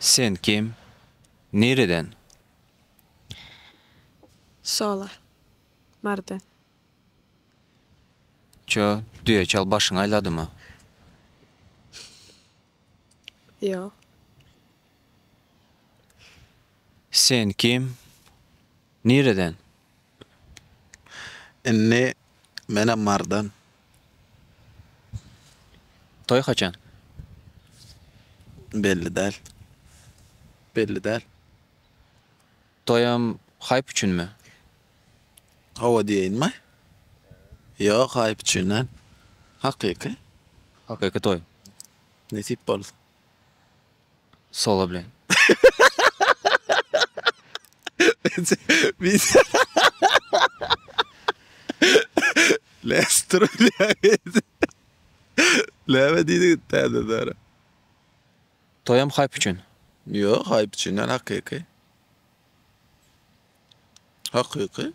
Sen kim? Nireden? Solar. Mardan. Çö, düýe çal başyňy aýladymy? Ýok. Sen kim? Nireden? Indi menem Marydan. Toý haçan? Belli däl. Belli däl. Toýam haýp üçinmi? Hawa diýeýinmi? Ýok, haýp üçin däl. Hakyky. Hakyky toý. Nesip bolsa. Solo bilen. Näme diýdiň täzeden? Toýam haýp üçin. Ýok haýp üçin däl hakyky. Hakyky.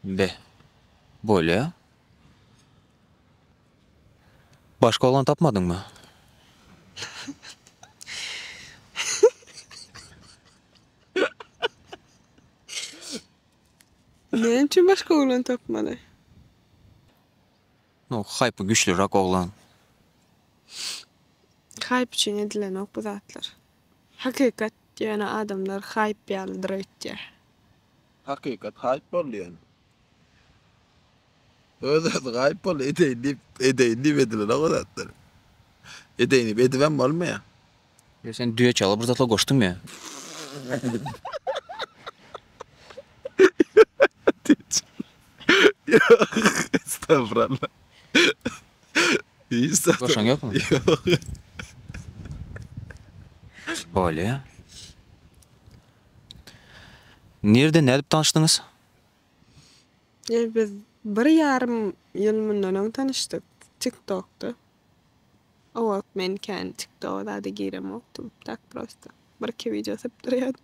Be. Bolýa. Başga oglan tapmadyňmy? Näme üçin başga oglan tapmaly? No hype güçlürak oglan. Hype üçin edilenok bu zatlar. Hakykat ýöne adamlar hype ýalydyr öýtýär. Hakykat hype boldy ýöne. Öz özi hype boldy edeýin diýip edeýin diýip edilenok o zatlar. Edeýin diýip edibem bolmaýar. Ýa sen düýe çaga bir zatlar goşdyňmy? Estagfuralla. Hiç zat. Goşaň ýokmy? Bolýa. Nirde nädip tanyşdyňyz? Biz bir ýarym ýyl mundan öň tanyşdyk. Tiktokda. Owak men kän tiktoga zada giremokdym tak prosta bir iki wideo sypdyrýadym.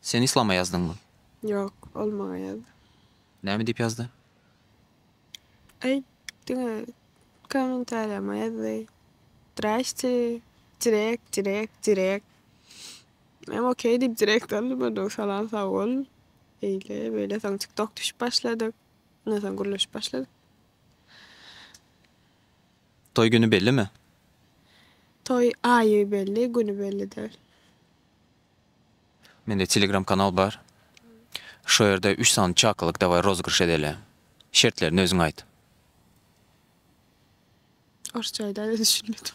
Sen islama ýazdyňmy? Ýok, ol maňa ýazdy. Näme diýip ýazdy? Aý, diňe kommentariýama ýazdy. Zdrastie, direkt, direkt, direkt. Menem okey diýip direkt aldym onnoň salam sagbol. Eýle, beýle soň tiktok düşüp başladyk. Ondan soň gürleşip başladyk. Toý güni bellimi? Toý aýy belli, güni belli däl. Mende telegram kanal bar. Şo ýerde üç sany çakylyk daway rozygryş edeli. Şertlerini özüň aýt. Orsça aýdaýda düşünmedim.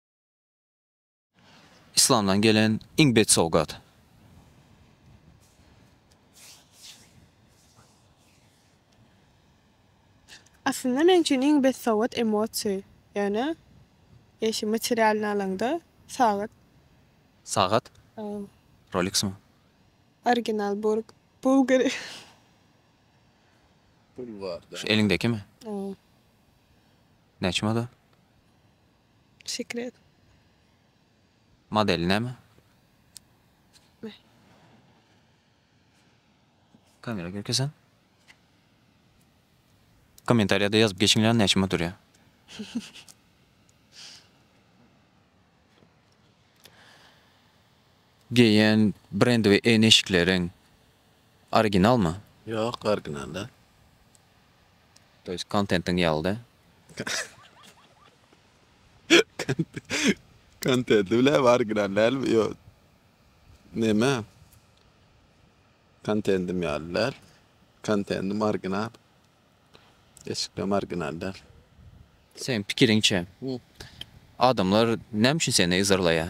Yslamdan gelen iň bet sowgat. Aslynda men üçin iň bet sowgat emosiýa, ýöne eşi materialnyý alaňda sagat. Sagat? Roleksmi? Original burg, bulgari. Şu eliňdekimi? Näçe model? Sekret. Model näme? Kamera görkezen. Kommentariýada ýazyp geçiňler näçem oturýar. Geýen brendiwi en eşikleriň originalmy? Ýok original däl. To ýest kontentiň ýaly da. Kontenti bile bar giren dälmi? Ýok. Neme? Kontentim ýaly däl. Kontentim original. Eşiklerim original däl. Sen pikiriňçe, adamlar näme üçin seni yzarlaýar?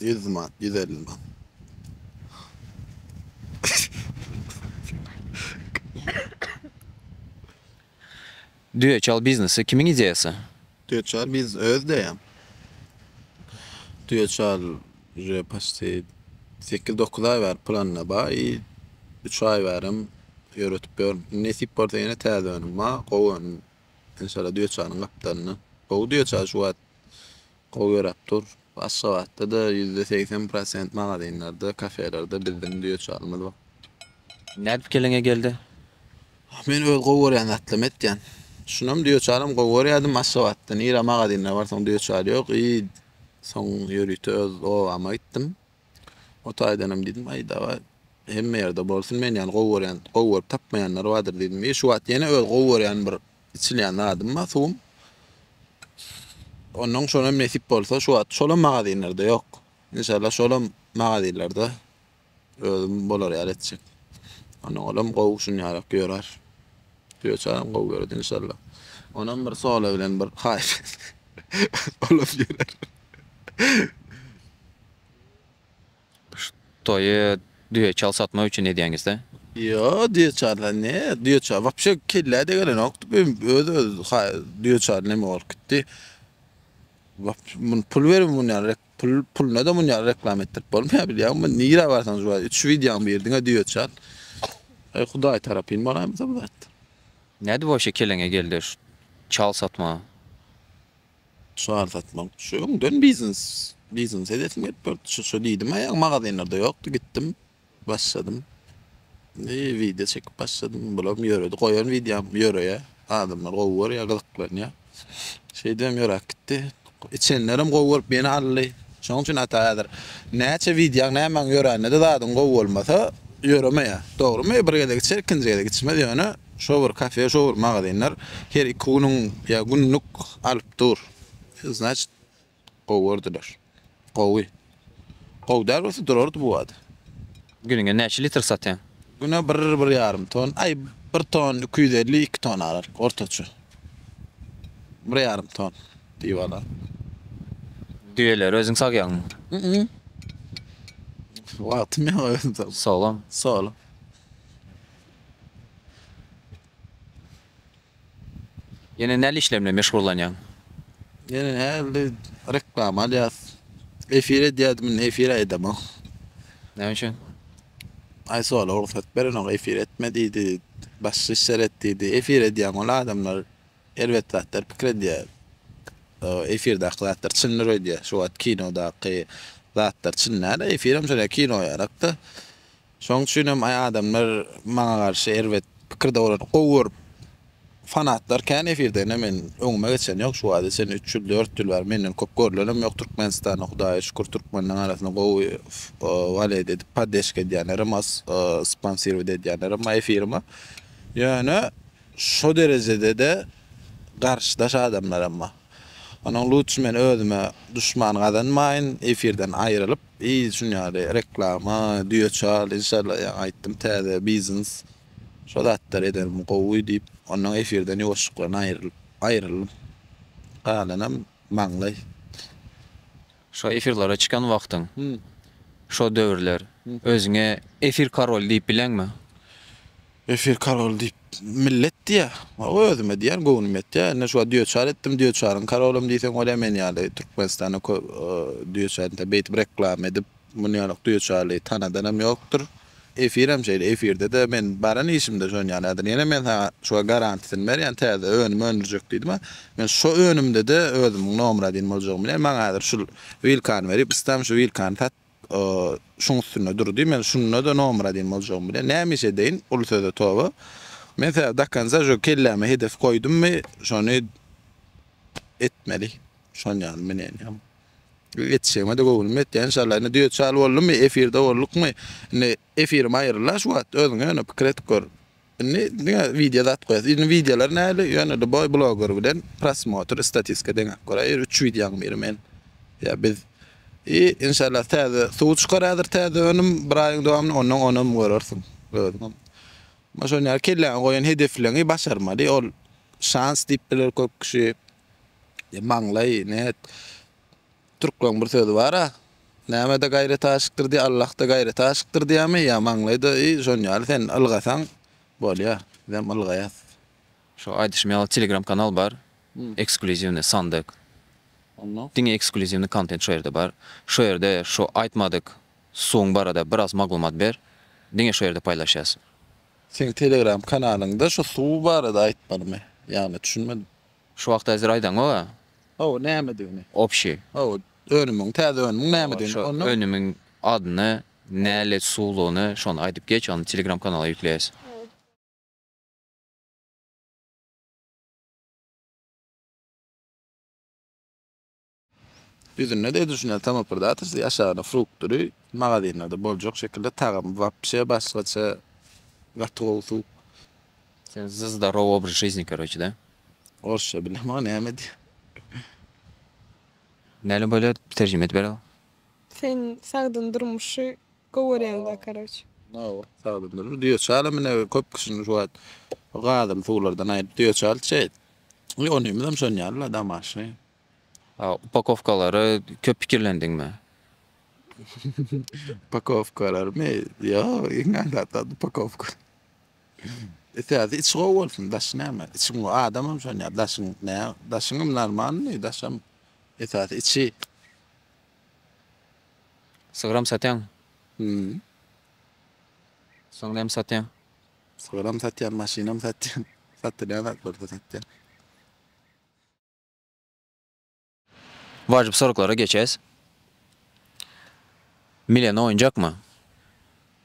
Ýüz man, ýüz elli man. Düýe çal biznesi kimiň ideýasy? Düýe çal biznes öz ideýam. Düýe çal uje paçti sekiz-dokuz aý bäri planda bar i üç aý bärem ýöretip ýörün. Indi nesip bolsa ýene täze önüm bar, gowy önüm. Enşalla düýe çalyň gapdalynda. Gowy düýe çal şu wagt Gowy ýöräp dur. Aşgabatda-da ýüzde segsen prosent magazinlerde, kafelerde bizdiň düýeçarymyz bar. Nädip keleňe geldi? Men öz gowy görýän zatlarymy etýän. Şunam düýeçaram gowy görýärdim Aşgabatda. Nirä magazinler barsaň düýeçar ýok. Yz soň ýörite öz obama gitdim. O taýdanam diýdim, Aý, dawa, hemme ýerde bolsun, men ýaly gowy görýän, gowy görüp tapmaýanlar bardyr diýdim. Ýe, şu wagt ýene öz gowy görýän bir içilýän zadym bar, suwum. Onnoň şonam nesip bolsa, şu wagt şolam magazinlerde ýok. Inşallah şolam magazinlerde özüm bolar ýaly etjek. Onnoň olam gowy şun ýarak ýörer. Düýeçaram gowy göredi inşallah. Onam bir sola bilen bir haýyş olam ýörer. Toýy düýe çal satmak üçin edýäňizda? Ýo, düýe çaryna ne? Düýe çary wapşe kellä degelenokdy. Bu öz-öz ha düýe çary neme bolup gitdi. Wap muny pul berip muny ýaly rek pul puluna-da muny ýaly reklama etdirip bolmaýar bilýäňmi? Muny nirä barsaň şu wagt üç wideoň biri diňe düýe çar. Eý, Hudaý tarapyn bolaýmasa bu zat. Nädip wapşe keleňe geldi şu çal satmaga? Çar satmak düşe öňden biznes biznes edesim gelip durdy şu şu diýdim aýagy magazinlerde ýokdy gitdim başladym indi wideo çekip başladym bulam ýöredi goýan wideom ýöreýä adamlar gowy görýä gyzyklanýa şeýdibem ýöräp gitdi içenlerem gowy görüp ýene aldy şoň üçin ata häzir näçe wideoň nämäň ýörände-de zadyň gowy bolmasa ýöremeýä dogrumy bir gezek içer ikinji gezek içmez ýöne Şowur kafe, şowur magazinler her iki günüň ýa günlük alyp dur. Znaçit gowy gördüler. Gowy. Gowy däl bolsa durardy bu bada. Gününe näçe litr satýaň? Güne bir, bir ýarym ton. Aý bir ton iki ýüz elli, iki ton aralyk ortaça. Bir ýarym ton diýip alar. Düýeleri özüň sagýaňmy? Ýa-da. Wagtym ýok özüm sagyp. Solam? Solam. Ýene näli işler bilen meşgullanýaň? Ýene nähili reklama alýas. Efir edýädim indi efir aýdamok. Näme üçin? Aýsogala rugsat berenok efir etme diýdi. Başga işler et diýdi. Efir edýäň ol adamlar erbet zatlar pikir edýär. Efirdaky zatlar çyndyr öýdýär. Şu wagt kinodaky zatlar çyn däl. Efirem şonda kino ýarakda. Şoň üçin hem adamlar maňa garşy erbet pikirde bolan gowy görüp fanatlar kän efirde ine men öňüme geçen ýok şu wagta çenli üç ýyl dört ýyl bäri menden köp görlenem ýok türkmenistanda hudaýa şükür türkmenleň arasynda gowy waled edip paddeşka edýänlerem az sponsirowat edýänlerem az efirime ýöne şo derejedede garşydaş adamlaram bar. Onuň lutçy men özüme duşman gazanmaýyn efirden aýrylyp yz şun ýaly reklama düýe çal inşallah ýaňy aýtdym täze biznes şo zatlar edenim gowy diýip ondan efirden ýuwaşjyklaryn aýrylyp aýryldym galanam maňlaý Şo efirlere çykan wagtyň. Şo döwürler. Özüňe efir karoly diýip bileňmi? Efir karoly diýip millet diýýä. Özüme diýýän göwnüm ýetýä. Indi şuwagt düýeçar etdim. Düýeçaryň karolym diýseň bolýa. Men ýaly Türkmenistanda köp düýeçar. Beýtip reklama edip munýalak düýeçary tanadanam ýokdur. Efirem şeýle efirdede men baran işimde şony ýaly ýazyr. Ýene men saňa şuga garantisini berýän täze önüm öndürjek diýdima. Men şo önümdede özümiň nomra deýin boljagyny bilýän. Maňa häzir şul wilkany berip islam şu wilkany sat şuň üstünde dur diý men şundada nomra deýin boljagyny bilýän. Näme iş edeýin uly söze toba. Men sä dakonca şo kelläme hedef goýdummy şony etmeli. Şon ýaly minenýam. Ýetişegime-de göwnüm ýetýär enşalla. Indi düýe çal boldumy, efirde boldukmy, indi efirim aýryl-a şu wagt, özüň ýöne pikir edip gör. Indi diňe wideo zat goýasy. Indi wideolar nähili, ýöne-de boý bloger bilen prosmotr, istatistika deňäp göräýer. Üç wideoň biri men, ýa biz. I, enşalla täze suw çykar häzir täze önüm bir aýyň dowamynda, onnoň onam görersiň özüňem. Şonýaly kelläňe goýan hedefleňi başarmaly, ol şans diýip biler köp kişi. E, maňlaý, näet? Türkleriň bir sözi bar-a, Näme-de gaýrat aşykdyr diýýär, Allah-da gaýrat aşykdyr diýýärmi? Ýa maňlaý-da, e, şonuň ýaly sen ylgasaň, bolýar. Bizem ylgaýas. Şu aýdyşym ýaly Telegram kanal bar. Eksklýuziwnyý sandyk. Onda? Diňe eksklýuziwnyý kontent şu ýerde bar. Şu ýerde şu aýtmadyk suwuň barada biraz maglumat ber. Diňe şu ýerde paýlaşýas. Seň Telegram kanalyňda şu suw barada aýtmalymy? Ýagny düşünmedim. Şu wagt äzir aýdaňoga. Hawa, nämedigini. Obşi. Hawa, önümiň, täze önümiň nämedigini. Hawa, şo önümiň adyny, nälet suwlugyny şony aýdyp geç, ony telegram kanala ýükleýäs. Düzünde-de edilşinler tamam bir zatdyr, siz aşagyna frukt düri magazinlerde boljak şekilde tagamy wapşe başgaça gaty gowy sup. Sen zdarow obraz jizni karoçe da. Orsça bilem o näme diýýär. Näle bolýar terjime edip berel. Sen sagdyn durmuşy gowy görýäňda karoçe. Hawa sagdyn durmuş düýe çala mine köp kişini şu wagt gadymy suwlardan aýryp düýe çal çeýdi. Ýonymyzam şon ýaly la damaşy. Upakowkalary köp pikirlendiňmi? Upakowkalarymy? Ýok, iň aňsat zat upakowka. Esasy içi gowy bolsun, daşy näme? Içiň gowy, adamam şonýa, daşyň nä? Daşyňam normalnyý, daşam. Esasy içi. Sygyram satýaňmy? Hü. Soň näme satýaň? Sygyram satýan, maşynam satýan. Satylýan zatlar-da satýan. Wajyp soraglara geçäs. Milena oýunjakmy?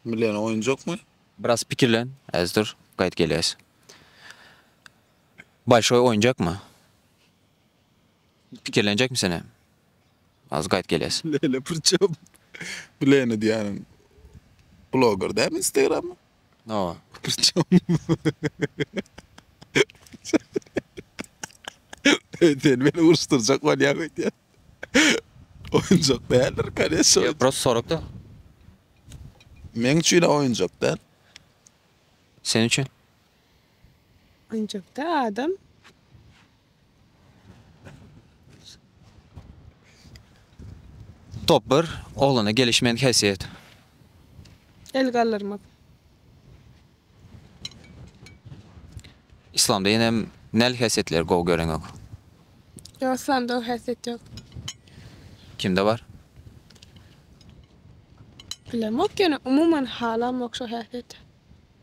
Milena oýunjakmy? Biraz pikirlen, äz dur, gaýt gelýäs. Bolşoý oýunjakmy? Pikirlenjekmi sen hem? Azyk aýt geles. Leýla priçem bu Leýna diýýäniň bloger dälmi instagrammy. Hawa. Priçem Eý sen meni uruşdyrjak bolýaň öýdýän. Oýunjak däldir koneşşa. Ýok prosta sorakda. Meň üçinem oýunjak däl. Sen üçin. Ancakda adam Top bir oglana gelişmän häsiýet. El galdyrmak. Islamda ýenem näl häsiýetleri gowy göreň ýok? Ýok, islamda o häsiýet ýok. Kimde bar? Bilemok ýöne umuman halamok şo häsiýeti.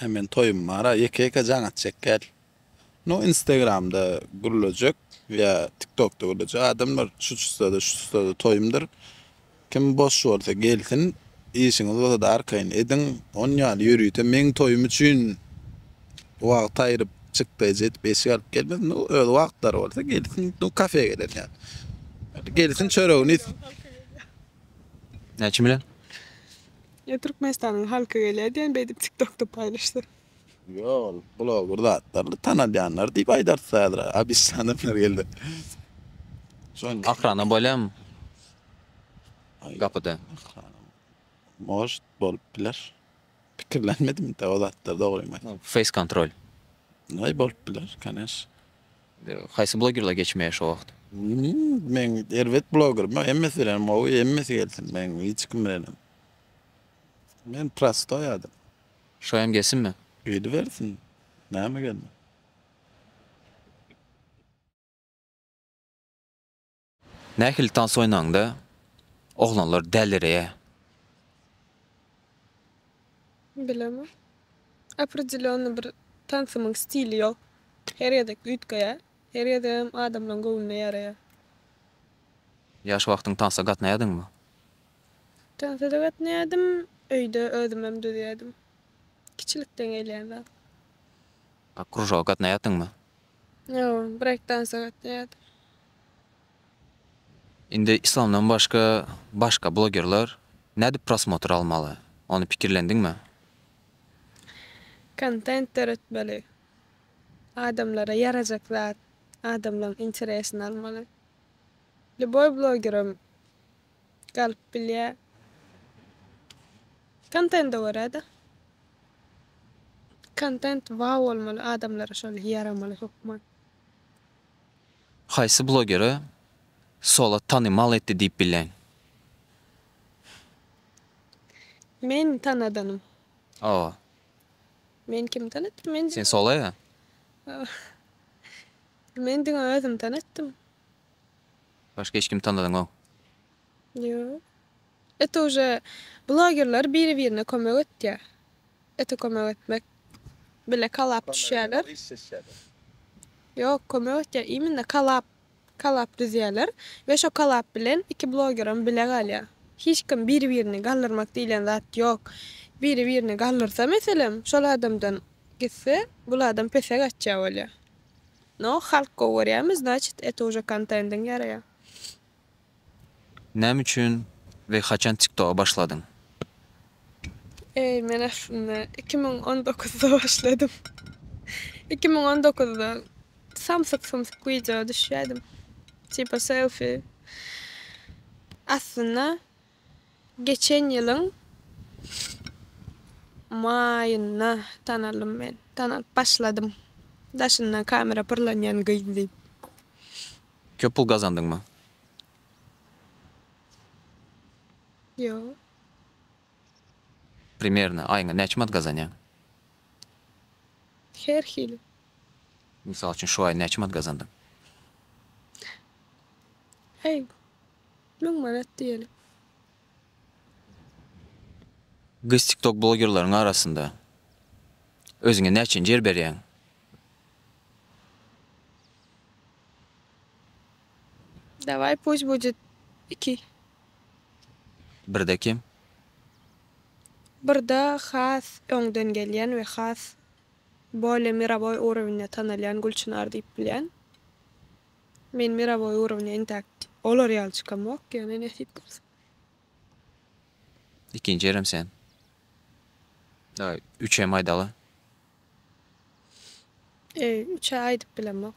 Aý men toýum bara ýeke ýeke jaň etjek gel. Nu instagramda gürlejek ýa tiktokda gürlejek adamlar şu çystada şu çystada toýumdyr kim boş bolsa gelsin işiňiz bolsada arkaýyn ediň on ýaly ýörite meň toýum üçin wagt aýryp çykdaýjy edip eşik alyp gelmez nu öz wagtlary bolsa gelsin nu kafe gelen ýaly gelsin çöregini iýsin. Näçe milyon? Ýa Türkmenistanyň halky gelýär diýen beýdip tiktokda paýlaşsa. Ýok ol bloger zatlaryny tanadýanlar diýip aýdarys häzir abisli adamlar geldi. Şoň Ahrana bolýamy gapyda. Может bolup biler. Pikirlenmedim inte o zatlar dogrymy aýtsam. Face kontrol. Bolup biler kanes. Haýsy blogerler geçmeýär şo wagt. Men erbet blogerm ýok hemmesi bilenem gowy hemmesi gelsin men hiç kim bilenem men prostoý adam. Şo hem gelsinmi. Gelibersin näme gelmez. Nähili tans oýnanda oglanlar dälireýär? Bilemok. Opredelýonnyý bir tansymyň stili ýok. Her gezek üýtgeýär. Her gezegem adamlaň göwnüne ýaraýar. Ýaş wagtyň tansa gatnaýadyňmy? Tansa-da gatnaýardym, öýde özümem düzýärdim. Kiçilikden gelýän zat. A kružoga gatnaýardyňmy? Ýok, breýk-tansa gatnaýardym. Indi islamdan başga başga blogerler nädip prosmotr almaly? Ony pikirlendiňmi? Kontent döretmeli. Adamlara ýarajak zat, adamlaň interesini almaly. Lýuboý blogerem galyp bilýä. Kontende görä-de. Kontent wow bolmaly, adamlara şol ýaramaly hökman. Haýsy blogeri Solat tanymal etdi diýip bileň? Men tanadanym. Hawa. Meni kim tanatdy? Men Sen Solaýa? Men diňe özüm tanatdym. Başga hiç kimi tanadyňok? Ýok. It uje blogerler biri-birine kömek etýär. Ete kömek etmek bile kalap düşýärler. Ýok, kömek etýär. Imенно kalap, kalap düzýärler we şo kalap bilen iki blogeram bile galýar. Hiç kim biri-birini galdyrmak diýlen zat ýok. Biri-birini galdyrsa, meselem, şol adamdan gitse, bul adam pese gaçýar bolýar. No, halk gowy görýärmi, znaçit, ete uje kontendiň ýaraýar. Näme üçin we haçan tiktoga başladyň? Eý men aslynda iki müň on dokuzda başladym. Iki müň on dokuzda samsyk sumsyk wideo düşýädim. Tipa selfi. Aslynda geçen ýylyň maýynda tanaldym men. Tanalyp başladym. Daşyndan kamera pyrlanýan gyz diýip. Köp pul gazandyňmy? Ýok. Primerno aýyňa näçe manat gazanýaň? Her hili. Mysal üçin şu aý näçe manat gazandyň? Heý, müň manat diýeli. Gyz tiktok blogerleriň arasynda özüňe näçenji ýer berýäň? Daway puç bujet iki. Birde kim? Birde has öňden gelýän we has bolye mirowoý urowinde tanalýan Gülçynar diýip bilýän. Men mirowoý urowine intäk olar ýaly çykamok, ýöne nesip bolsa. Ikinji ýerem sen. Daýy üç hem aýdaly. Eý üçe aýdyp bilemok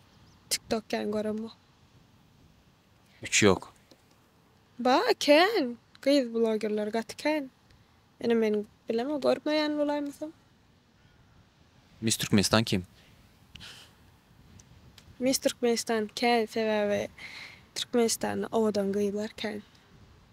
tik tok kän göremok. Üç ýok. Ba kän gyz blogerler gaty kän. Ene men bileme görmeýän bolaýmasam. Miss Türkmenistan kim? Miss Türkmenistan kän sebäbi Türkmenistanda owadan gyzlar kän.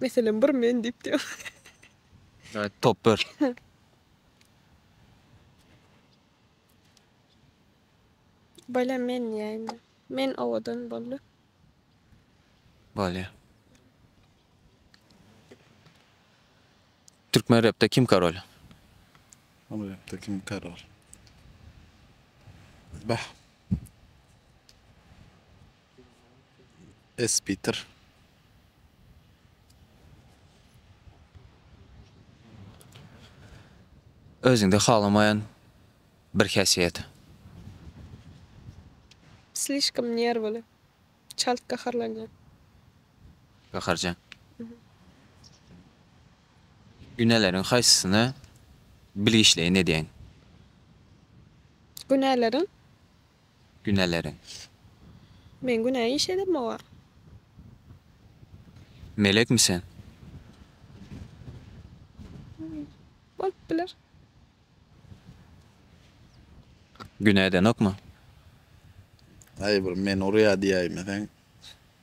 Meselem bir men diýip diýýän. Aýt top ber. Bolýa men diýäýin. Men owadan boldy. Bolýa. Türkmen repde kim karol? Ama rapte kim karol? Bah. Espitr. Özüňde halamaýan bir häsiýet. Slişkom nerwly. Çalt gaharlanýan. Gaharjaň. Günäleriň haýsysyna bilgiçleýin edýäň? Günäleriň Güneleriň. Men günä iş edip mi bar. Melekmi sen? Bolup biler. Günä edenokmy? Aý bir meni urýa diýäýmeseň.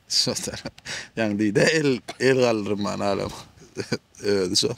Şo tarap. Ýaňy diýdi-ä el el galdyrman alem özi şol.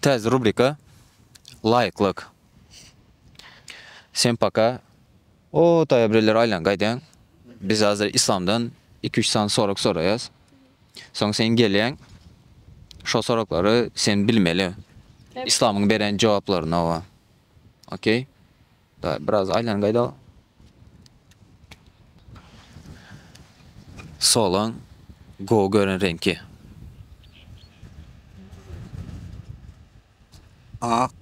Täze rubrika Laýyklyk. Sem paka. O taýa bireler aýlan gaýdaň. Biz hazir Islamdan iki üç sany sorag soraýas. Soň sen gelýäň. Şo soraglary sen bilmeli. Islamyň beren jogaplaryny owa. Okey. Daýy biraz aýlan gaýda. Solan gowy gören reňki. Ak.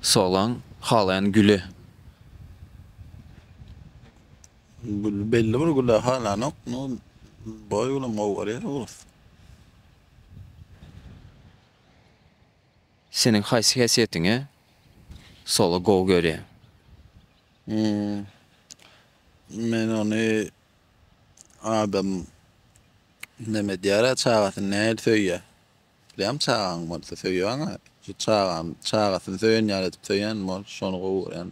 Solan halaýan güli. Gül belli bir güle halanok. No boý bilen gowy görýär oguz. Seniň haýsy häsiýetiňe soly gowy görýäň? Men ony adam näme edýärä çagasyny nähili söýýä bilýäňmi çagaň bolsa söýýäňä şu çagam çagasyny söýen ýaly edip söýýän bol şony gowy görýän.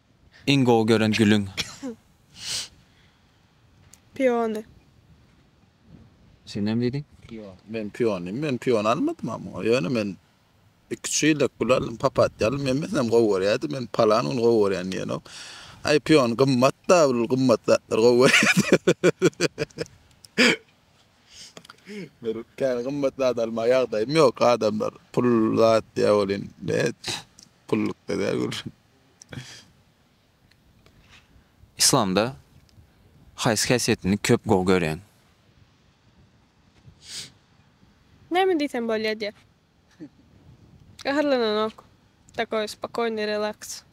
Iň gowy gören gülüň? Piony. Sen näme diýdiň? Men piony, men piony almadym amma. Ýöne men iki-üç ýyllap gül aldym, papatýa aldym. Men meselem gowy görýärdim, men palan gün gowy görýän diýenok. Aý, piony gymmat-da, ol gymmat zatlary gowy görýärdim. Bir kän gymmat zat almaga ýagdaýym ýok. Adamlar pul zat diýýär welin, Gullukda däl gürrüň. Yslamda haýsy häsiýetini köp gowy görýäň? Näme diýsem bolýar diýä. Gaharlananok. Takoý spokoýnyý relaks.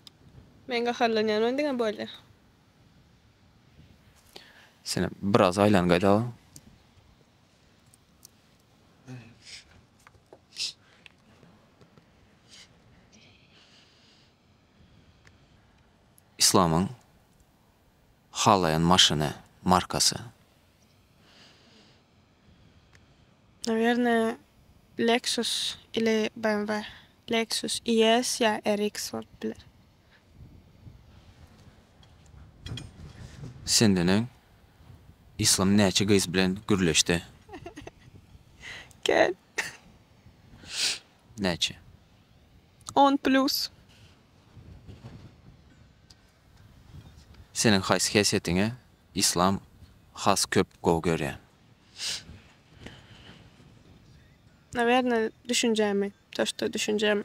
Men gaharlanýan men diňe bolýa. Senem biraz aýlan gaýdala. Islamyň halaýan maşyny markasy. Nawerne Lexus ili BMW. Lexus ES ýa RX bolup biler. Sendeneň Yslam näçe gyz bilen gürleşdi? Gel. Näçe? On plus. Seniň haýsy häsiýetiňe Yslam has köp gowy görýä? Nawerne düşünjämi, to, şto düşünjämi.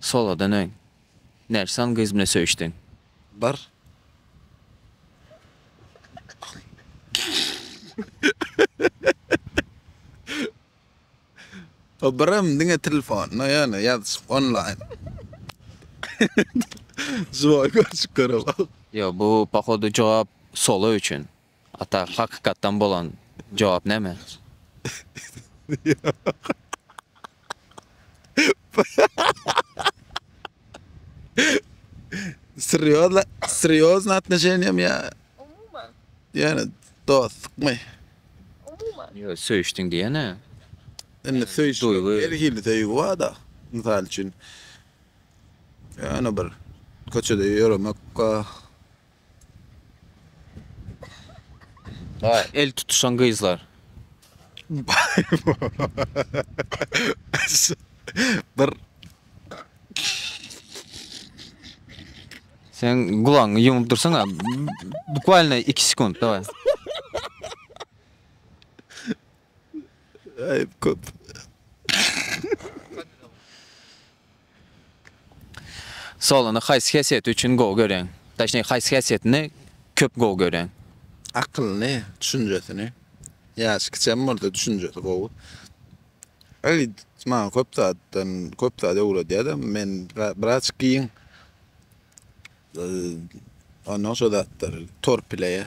Soladan öň, Nersan gyz bilen söýüşdiň? Bir. O birem diňe telefonda, ýöne ýazyşyp onlaýn. Žiwoý görşüp görüp al. Ýok, bu pohodu jogap Sola üçin. Ata hakykatdan bolan jogap näme? Srýozna srýozna atnoşeniýami ýa Umuman. ýöne dostlukmy? Umuman. Ýo söýüşdiň diýene. Indi söýüş Duýgy. her hili söýgi barda. Mysal üçin ýöne bir köçede ýöremek ba. Bar el tutuşan gyzlar. Bir Sen gulagyňy ýumup dursaňa. Bukvalno 2 sekund daway. Aýyp köp. Solany haýsy häsiýeti üçin gowy göreň? Daşniki haýsy häsiýetini köp gowy göreň? Akylyny, düşünjesini. Ýaşy kiçem bolsa düşünjesi gowy. Elit maňa köp zatdan, köp zat öwredýär-de, men biraz giň. Ondan şo zatlar torpileýär.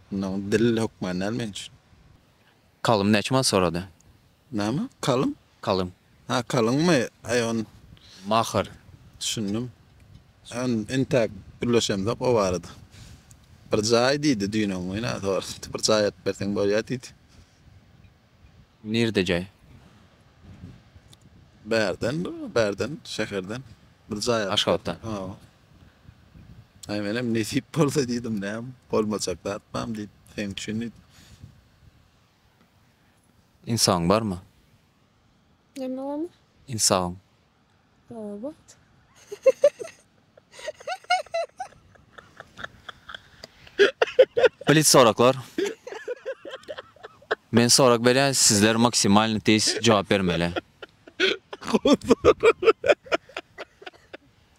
Mundan gyz dil hökman däl men üçin. Kalym näçe manat sorady? Näme? Kalym? Kalym. Ha, kalyňmy? Aý on. Mahar. Düşündim. Än entäk gürleşemzok o barada. Bir jaý diýdi düýn-öň günä sordy. Bir jaý aýdyp berseň bolýa diýdi. Nirde jaý? Bärden, bärden, şäherden. Bir jaý aýdyp. Aşgabatdan. Hawa. Aý menem nesip bolsa diýdim näm bolmajak zat bam diýip seň üçin diýdim. Insabyň barmy? Näme barmy? Insabyň. Obat. Blitz soraklar. Men sorak berýän sizler maksimalny tiz jogap bermeli.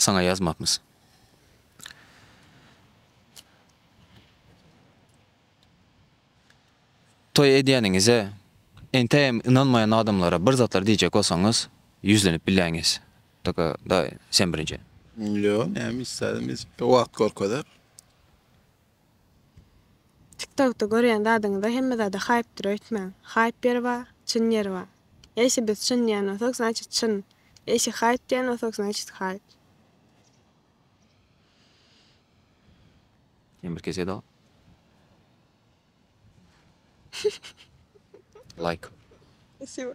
Saňa ýazmapmys? Toý edýäniňize entäýem ynanmaýan adamlara bir zatlar diýjek bolsaňyz, ýüzlenip bilýäňiz. Taka, daýy, sen birinji. Ýok, näme iş zat, biz wagt görkezer. Tik tokda görýän zadyňyza hemme zada haýpdyr öýtmäň. Haýp ýeri ba, çyn ýeri ba. Eýse biz çyn diýän bolsak znaçit çyn. Eýse haýp diýän bolsak znaçit haýp. Ýene bir kese da. Laýk. Spasibo.